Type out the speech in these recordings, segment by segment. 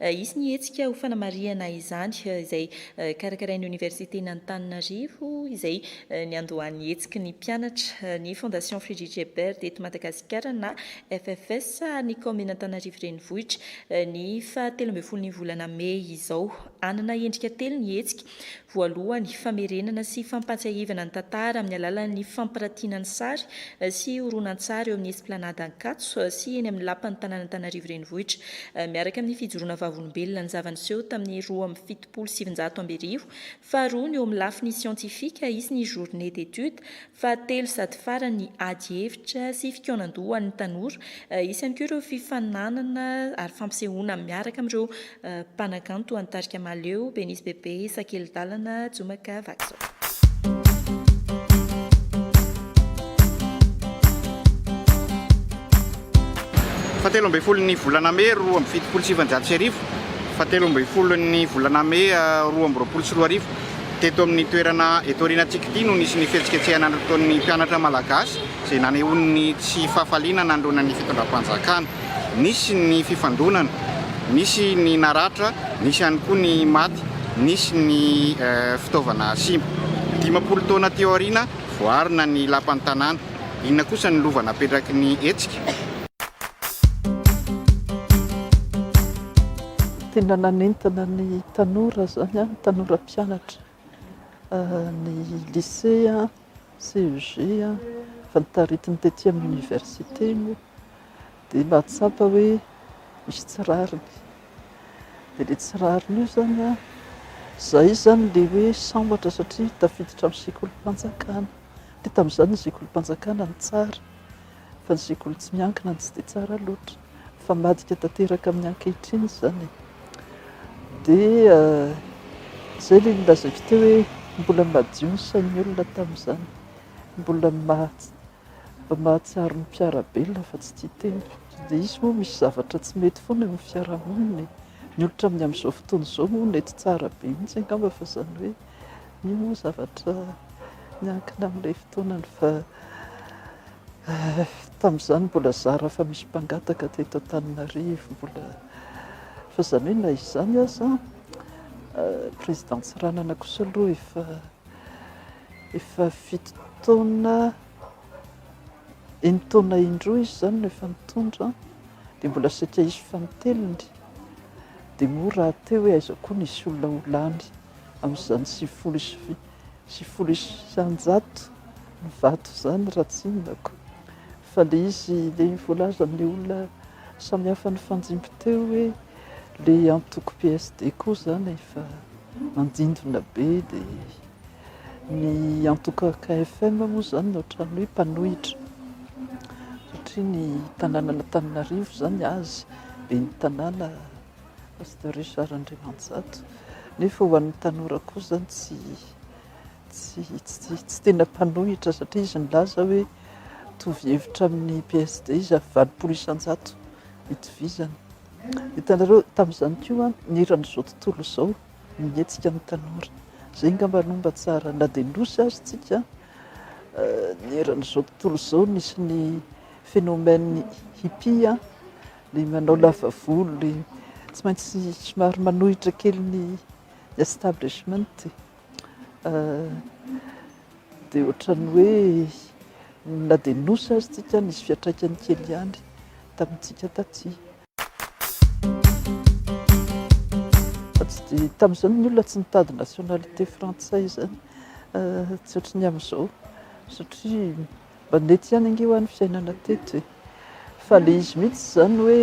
Hisy ny hetsika ho fanamarihana izany izay karakarain'ny Oniversiten'Antananarivo izay niandohan'ny hetsiky ny mpianatra, ny Fondation Friedrich Ebert eto Madagasikara na FFS ary ny Kaominina Antananarivo Renivohitra ny faha telo ambin'ny folon'ny volana mey izao. Hanana endrika telo ny hetsika, Voalohany, famerenana sy fampahatsiahivana ny tantara amin'ny alalan'ny fampirantiana ny sary sy horonantsary eo amin'ny Esplanade Ankatso sy eny amin'ny Lapan'ny tanàn'Antananarivo Renivohitra, miaraka amin'ny fijoroana vavolombelona ny zava-niseho tamin'ny roa amby fitopolo sy sivinjato amby arivo. Faharoa, ny eo amin'ny lafiny siantifika, hisy ny Journée d'études Fahatelo sady farany ny ady hevitra sy fikaonan-doha ho an'ny tanora. Hisy ihany koa ireo fifaninanana ary fampisehoana miaraka amin'ireo mpanakanto any tarika Mahaleo, Ben'izy Bebe, Sakelidalana, Jomaka, vaky izao. Fahatelo ambin'ny folon'ny volana mey roa amby fitopolo sy sivinjato sy arivo Fahatelo ambin'ny folon'ny volana mey roa amby roapolo sy roa arivo. Teto amin'ny toerana eto aorianantsika ity no nisy ny fihetsiketsehana nataon'ny mpianatra malagasy izay nanehoany ny tsy fahafaliana nandroana ny fitondram-panjakana. Nisy ny fifandonana, nisy ny naratra, nisy ihany koa ny maty, nisy ny fitaovana simba. Dimampolo taona teo aoriana, voaarina ny lapan'ny tanàna. Inona kosa ny lova napetraky ny hetsika? Tena nanentana ny tanora izany an, ny tanora mpianatra ny lycée, CEG fa notaritiny tety amin'ny université moa dia nahatsapa hoe misy tsy rariny. Dia ilay tsy rariny io izany an, izay izany ilay hoe sambatra satria tafiditra amin'ny sekolim-panjakana. Dia tamin'izany ny sekolim-panjakana no tsara fa ny sekoly tsy miankina no tsy dia tsara loatra. mifambadika tanteraka amin'ny ankehitriny izany dia izay ilay nolazaiko teo hoe mbola madio ny sain'ny olona tamin'izany, mbola mahatsiaro ny mpiara-be ilay fa tsy tia tena, dia izy moa misy zavatra tsy mety foana eo amin'ny fiarahamonina e, ny olon-tsaina amin'ny amin'izao fotoana izao moa nety tsara be mihitsy angamba fa izany hoe. Io moa zavatra miankina amin'ilay fotoanany fa tamin'izany mbola zara fa misy mpangataka teto Antananarivo, mbola fa izany hoe na izany aza président Tsiranana kosa aloha efa efa fito taona enin'ny taona indroa izy izany no efa nitondra dia mbola saika hisy fanintelony dia moa rahateo hoe aiza koa nisy olona ho lany. amin'izany sivifolo sy sivifolo isan-jato ny vato izany raha tsinonako fa le izy le voalaza amin'ny olona samihafa ny fanjimby teo hoe le antoko PSD koa zany efa mandindona be de ny antoko KFM moa zany no otrany hoe mpanohitra satria ny tanànan'Antananarivo zany azy be ny tanàna Pasteur Richard Andriamanjato, nefa ho an'ny tanora kosa tsy tsy tsy tsy tena mpanohitra satria izy nilaza hoe mitovy hevitra amin'ny PSD izy ary valopolo isan-jato itovizana. Hitanareo tamin'izany koa ny eran'izao tontolo izao mihetsika ny tanora. Izay angamba no mba tsara na dia nosy azy tsika ny eran'izao tontolo izao nisy ny phénomène hippie Ilay manao lava volo, ilay tsy maintsy somary manohitra kely ny establishment dia ohatran'ny hoe na dia nosy aza isika nisy fiantraikany kely ihany tamintsika taty. Tamin'izany ny olona tsy nitady nationalité frantsay izany tsy ohatran'ny amin'izao satria Mandeha tsy ihany ange hoa ny fiainana teto e! Fa le izy mihitsy izany hoe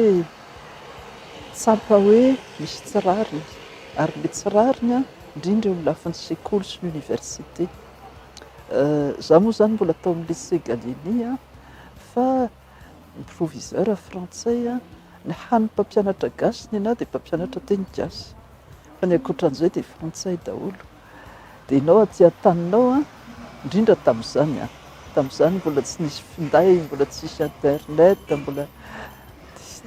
tsapa hoe misy tsy rariny, ary le tsy rariny an, indrindra eo amin'ny lafiny sekoly sy ny université. Za moa izany mbola tao amin'ny lycée Gallieni an, fa ny proviseur frantsay an, ny hany mpampianatra gasy ny anah dia mpampianatra teny gasy, fa ny ankoatran'izay dia frantsay daholo. dia ianao aty an-taninao an, indrindra tamin'izany an, tamin'izany mbola tsy nisy finday, mbola tsy nisy internet, mbola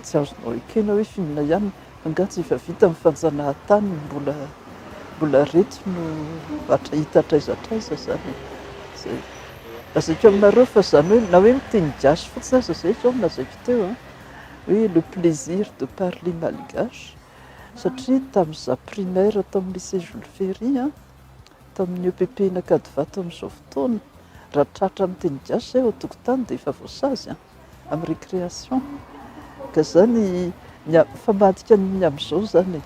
tsy azonao ekena hoe f'inona ihany, angaha tsy efa vita ny fanjanahantany no mbola mbola ireto no hatra hita hatraiza hatraiza izany e, izay. Lazaiko aminareo fa izany hoe na hoe miteny gasy fotsiny aza izay izao no lazaiko teo an, hoe le plaisir de parler malgache. satria tamin'ny za primaire tamin'ny lycée Jules Ferry an, tamin'ny EPP Ankadivato amin'izao fotoana, raha tratra amin'ny teny gasy izay ao an-tokotany dia efa voasazy an, amin'ny récréation, ka izany ny fa madika ny amin'izao izany e,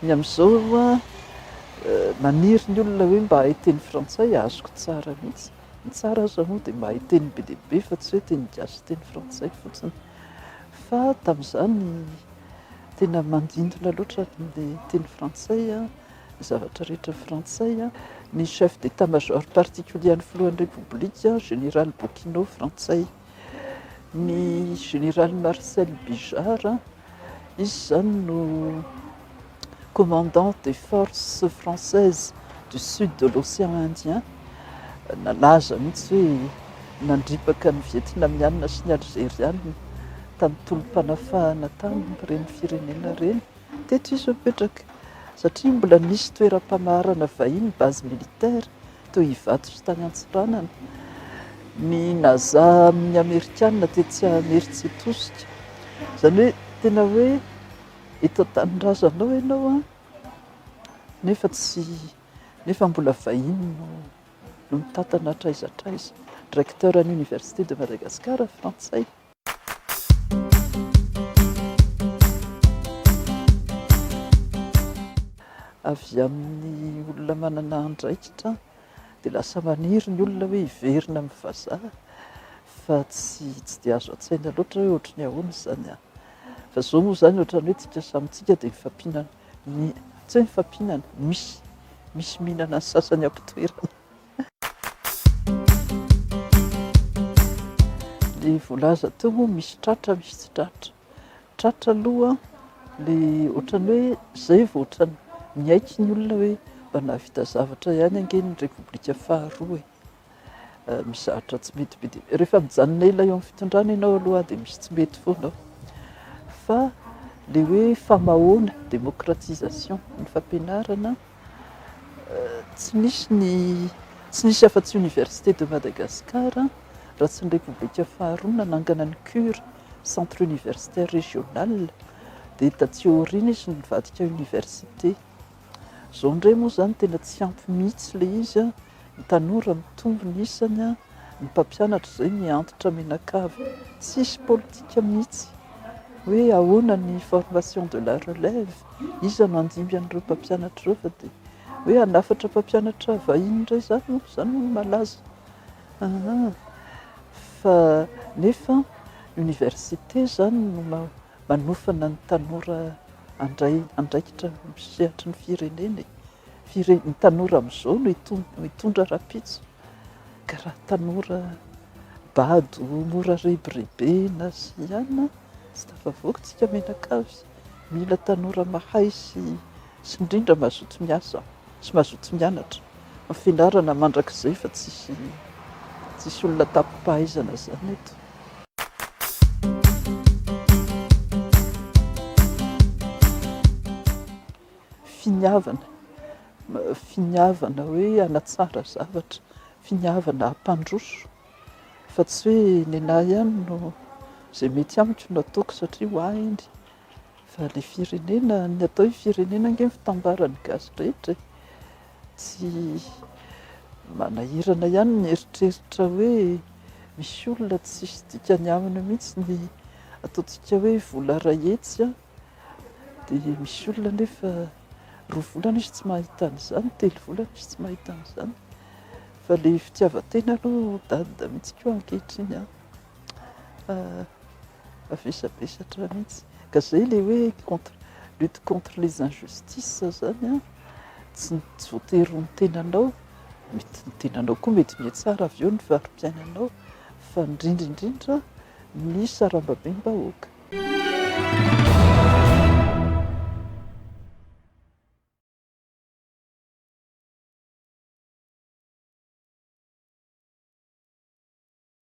ny amin'izao maniry ny olona hoe mba hahay teny frantsay azoko tsara mihitsy, ny tsara aza moa dia mahay teny be dia be fa tsy hoe teny gasy sy teny frantsay fotsiny. Fa tamin'izany tena mandintona loatra ny teny frantsay, ny zavatra rehetra frantsay. Ny chef d'état major particulier an'ny filohan'ny Repoblika, général Bokino, frantsay. Ny général Marcel Bijard, izy izany no. commandant des forces françaises du sud de l'océan Indien, nalaza mihitsy hoe nandripaka ny Vietnamiana sy ny Alzeriana tamin'ny tolom-panafahana tamin'ireny firenena ireny. Teto izy no nipetraka satria mbola nisy toeram-pamaharana vahiny, base militaire, toy Ivato sy tany Antsiranana. Ny Naza amin'ny Amerikana tetsy Imerintsiatosika. Izany hoe tena hoe Eto an-tanindrazanao ianao an, nefa tsy, nefa mbola vahiny no no mitantana hatraiza hatraiza. Recteur an'ny Université de Madagascar frantsay. Avy amin'ny olona manana andraikitra dia lasa maniry ny olona hoe hiverina amin'ny vazaha fa tsy tsy dia azo an-tsaina loatra hoe ohatry ny ahoana izany an! Fa izao moa izany ohatran'ny hoe isika samy isika dia mifampihinana ny tsy hoe mifampihinana, misy misy mihinana ny sasany am-pitoerany. Ny voalaza teo moa misy tratra misy tsy tratra. Tratra aloha le ohatran'ny hoe zay vao ohatran'ny miaiky ny olona hoe mba nahavita zavatra ihany ange ny repoblika faharoa e! mizatra tsy mety be dia rehefa mijanona ela eo amin'ny fitondrana ianao aloha dia misy tsy mety foana ao fa le hoe famahoana démocratisation ny fampianarana tsy misy ny tsy nisy afa-tsy université de Madagascar raha tsy ny repoblika faharoa nanangana ny cure Centre Universitaire Régional, dia taty aoriana izy no nivadika Université. Izao indray moa izany tena tsy ampy mihitsy ilay izy, ny tanora mitombo ny isany, ny mpampianatra izay mihantitra mianakavy, tsisy politika mihitsy hoe ahoana ny formation de la relève, iza no handimby an'ireo mpampianatra ireo fa dia hoe hanafatra mpampianatra vahiny indray izany moa izany no malaza. Aa! fa nefa université izany no manofana ny tanora handray andraikitra amin'ny sehatry ny firenena e! Fire- ny tanora amin'izao no hitondra rahampitso ka raha tanora bado mora rebirebena sy ihany an! tsy tafavoaka isika mianakavy, mila tanora mahay sy Sy indrindra mazoto miasa sy mazoto mianatra fa fianarana mandrakizay fa tsisy tsisy olona tapipahaizana zany eto. Finiavana finiavana hoe hanatsara zavatra finiavana hampandroso fa tsy hoe nenah ihany no zay mety amiko no ataoko satria ho ahy iny Fa le firenena, ny atao hoe firenena ange ny fitambaran'ny gasy rehetra e! Tsy manahirana ihany ny mieritreritra hoe misy olona tsisy dikany aminy mihitsy ny ataontsika hoe vola iray hetsy an! Dia misy olona anefa roa volana izy tsy mahita an'izany, telo volana izy tsy mahita an'izany. Fa le fitiavan-tena aloha dada mihitsy koa ankehitriny an! Mavesabesatra mihitsy. Ka izay ilay hoe contre, lutte contre les injustices izany an, tsy tsy voatery ny tenanao, mety ny tenanao koa mety mihatsara avy eo ny fari-piainanao fa indrindra indrindra ny sarambabem-bahoaka.